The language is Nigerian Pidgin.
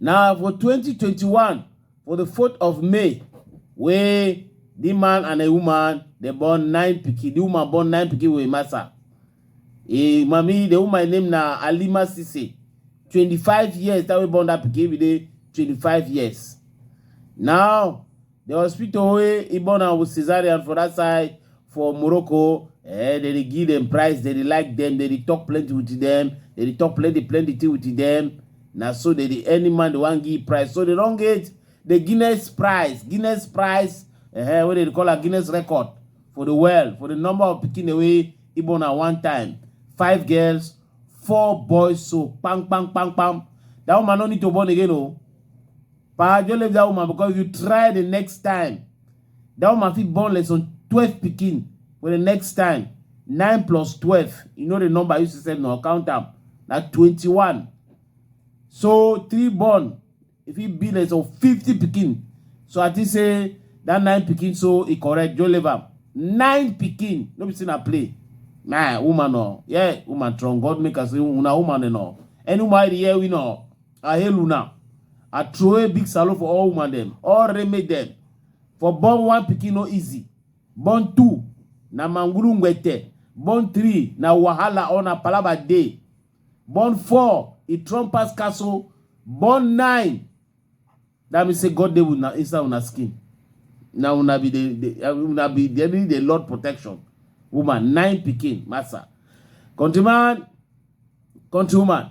Na for twenty twenty one for di fourth of May wey di man and im woman dem born nine pikin, di woman born nine pikin wit Emasa. Im mummy di woman name na Halima Sise, twenty five years di time wey born dat pikin im be dey twenty five years. Now The hospital wey he born am with cesarean for that side for Morocco, eh, they dey give them price, they dey like them, they dey talk plenty with them, they dey talk plenty plenty thing with them. Na so they dey any man they wan give price. So they don get the Guinness price, Guinness price, eh, wey they dey call am Guinness record for the world, for the number of pikin dem wey he born am one time. Five girls, four boys, so pam pam pam pam. That woman no need to born again, oh. Pa Joe leave that woman because you try the next time. That woman fit born less than 12 pikin for the next time. 9 plus 12. You know the number you said no count am. Na 21. So three born if he be less than 50 pikin. So I think say that nine pikin so e correct Joe leave am. Nine pikin. No be say na play. Nah, woman no. Yeah, woman strong. God make us say una woman no. Any woman here we know. I hail una. I throw a big salute for all woman them, all remake them. For born one pikin no easy. Born two na mangulu ngwete. Born three na wahala or na palaba day. Born four e trump pass castle. Born nine that means say God dey with una inside una skin. Na una be the, the uh, una be the, the Lord protection. Woman nine pikin massa. Countryman, countrywoman.